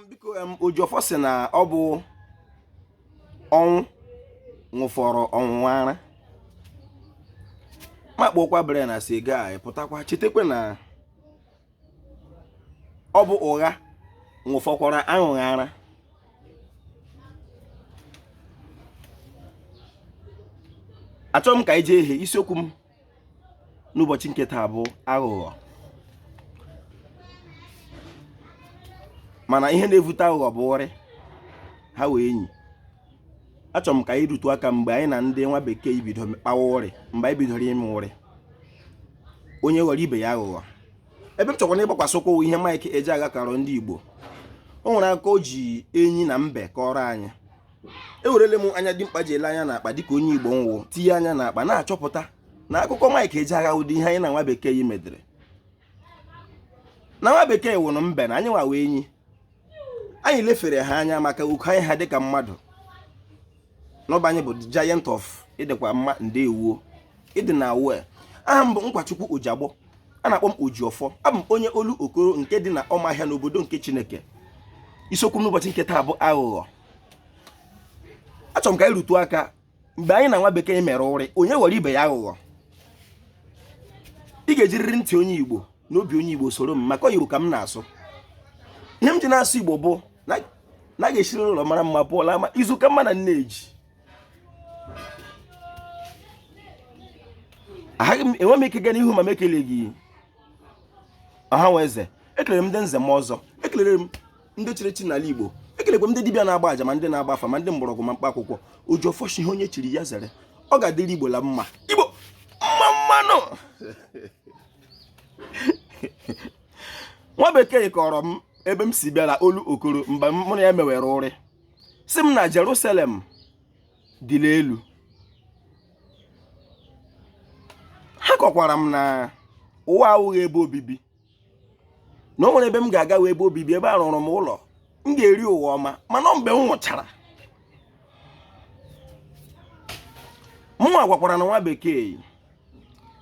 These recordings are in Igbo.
biko Ojiọfọ sị na ọ bụ ọnwụ ṅụfọrọ ọnwụnwa ara makpokwa bere na siga a pụtakwa chetakwa na ọ bụ ụgha ṅụfọkwara aṅụghị ara achọrọ m ka anyị jee ihe isiokwu m n'ụbọchị nke taa bụ aghụghọ mana ihe na-evute aghụghọ bụ ụrị ha wụ enyi achọrọ m ka anyị rutu aka mgbe anyị na ndị nwa bekee bido kpawa ụrị mgbe anyị bidoro ime ụrị onye ghọrọ ibe ya aghụghọ ebe m chọkwara ịgbakwasị ụkwụ ihe Mike Ejeagha karọ ndị Igbo o nwere aka o ji enyi na mbe kọọrọ anyị ewerele m anya dimkpa ji ele anya n'akpa dịka onye igbo m wụ tinye anya n'akpa na-achọpụta na akụkọ Mike Ejeagha ụdị ihe anyị na nwa bekee yi medere na nwa bekee wụrụ mbe na anyịnwa wụ enyi anyị lefere ha anya maka ukwu anyị ha dịka mmadụ n'ụba anyị bụ the giant of ị dịkwa mma ndewo ịdị na awue aha m bụ Nkwachukwu Ojiagbọ a na-akpọ m Ojiọfọ abụ m onye Olokoro nke dị na Ọmahịa n'obodo nke Chineke isiokwu m n'ụbọchị nke taa bụ aghụghọ achọrọ m ka anyị rutu aka mgbe anyị na nwa bekee mere ụrị onye ghọrọ ibe ya aghụghọ ị ga-ejiriri ntị onye igbo na obi onye igbo soro m maka igbo ka m na-asụ ihe m ji na-asụ igbo bụ na a ga-esiri n'ụlọ mara mma pụọ la ama izu ka mma na nneji enwe m ike gaa n'ihu ma m ekeleghị ọha nwe eze ekelere m ndị nze na ọzọ ekelere m ndị chiri echi n'ala Igbo ekelekwa m ndị dibịa na-agba aja ma ndị na-agba afa ma ndị mgbọrọgwụ ma mkpa akwụkwọ Ojiọfọ shị ihe onye chiri ya zere ọ ga-adịrị Igbo la mma Igbo mma mma nụ nwa bekee kọrọ m ebe m si bịara Olokoro mgbe mụ na ya mewere ụrị sị m na Jerusalem dị n'elu ha kọkwara m na ụwa awụghị ebe obibi na o nwere ebe m ga-aga wụ ebe obibi ebe a rụụrụ m ụlọ m ga-eri ụwa ọma mana mgbe m nwụchara mụnwa gwakwaranụ nwa bekee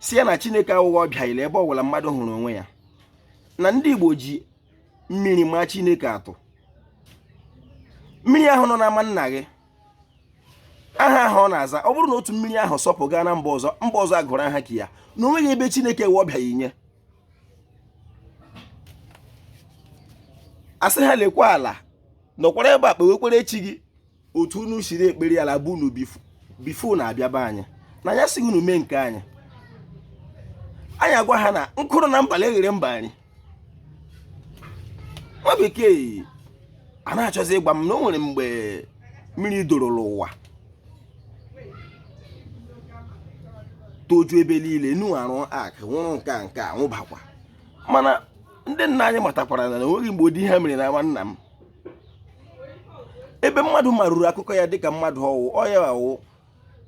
sị ya na chineke awụghị ọbịa la ebe ọbụla mmadụ hụrụ onwe ya na ndị igbo ji mmiri maa chineke atụ mmiri ahụ nọ n'ama nna gị aha ahụ ọ na-aza ọ bụrụ na otu mmiri ahụ sọpụ gaa na mba ọzọ mba ọzọ agụrụ aha ke ya na onweghị ebe chineke wụ ọbịa i nye asị ha lekwa ala nọkwara ebe a kpewekwere chi gị otu unu siri ekpere ala be unu bifo unu abịa be anyị na anyị asịghị unu mee nke anyị anyị agwa ha na nkụ dị na mba na-eghere mba nri nwa bekee a na-achọzi ịgwa m na o nwere mgbe mmiri doro n'ụwa toju ebe niile Noa arụ ark nwụrụ nke a nke a nwụbakwa mana ndị nna anyị matakwara na o nweghị mgbe ụdị ihe a mere n'ama nna m ebe mmadụ maruru akụkọ ya dịka mmadụ ọ wụ ọ ya wụ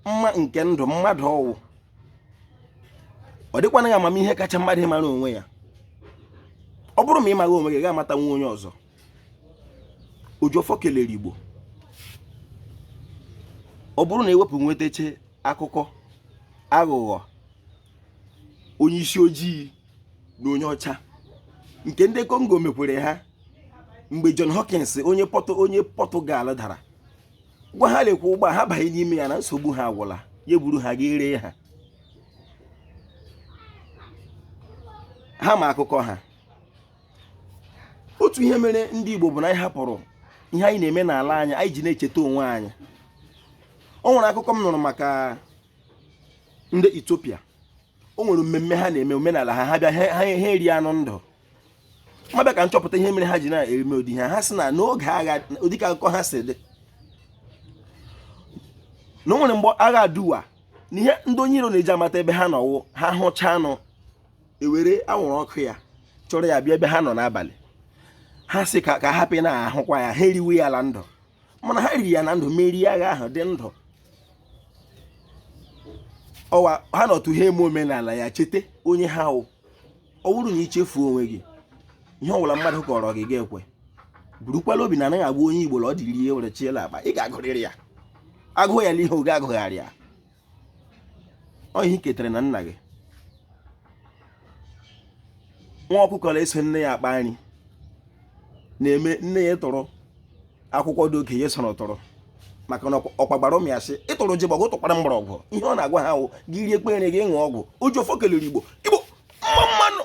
mma nke ndụ mmadụ ọ wụ ọ dịkwanụghị amamihe kacha mmadụ ịmara onwe ya ọ bụrụ ma ị maghị onwe gị ga-amatanwu onye ọzọ Oji ọfọ kelere Igbo ọ bụrụ na ewepụ nwetache akụkọ aghụghọ onye isi ojii na onye ọcha nke ndị Kongo mekwere ha mgbe John Hawkins onye pọtụ onye Pọtụgal dara gwa ha lekwa ụgbọ ha banye n'ime ya na nsogbu ha agwụla ya buru ha ga ree ha ha ma akụkọ ha otu ihe mere ndị Igbo bụ na anyị hapụrụ ihe anyị na-eme n'ala anyị anyị ji na-echeta onwe anyị o nwere akụkọ m nụrụ maka ndị Ethiopia o nwere mmemme ha na-eme omenala ha ha bịa ha eri anụ ndụ m abịa ka m chọpụta ihe mere ha ji na-eme ụdị ihe a ha sị na n'oge agha dị ka akụkọ ha si dị na o nwere mgbe agha aduwa na ihe ndị onye iro na-eji amata ebe ha nọ wụ ha hụcha anụ ewere anwụrụ ọkụ ya chọrọ ya bịa ebe ha nọ n'abalị ha sị ka ha hapụ ịna-ahụkwa ya ha eriwe ya na ndụ mana ha riri ya na ndụ merie agha ahụ dị ndụ ọ wụ ha nọtụ ha eme omenala ya cheta onye ha wụ ọ bụrụ na i chefuo onwe gị ihe ọbụla mmadụ kọọrọ gị ị ga-ekwe burukwala obi na anaghị agwa onye igbo na ọ dịrị ihe were chiela akpa ị ga-agụrịrị ya agụụ ya n'ihe oge agụgharị ya ọ ihe i ketere na nna gị nwa ọkụkọ na-eso nne ya akpa nri na-eme nne ya tụrụ akwụkwọ ndụ oke ya soro tụrụ maka na ọkwa gwara ụmụ ya sị ị tụrụ jigbọ gị tụkwara mgbọrọgwụ ihe ọ na-agwa ha wụ gị rie kpere gị ṅụọ ọgwụ oji ọfọ kelere igbo igbo mma mma nụ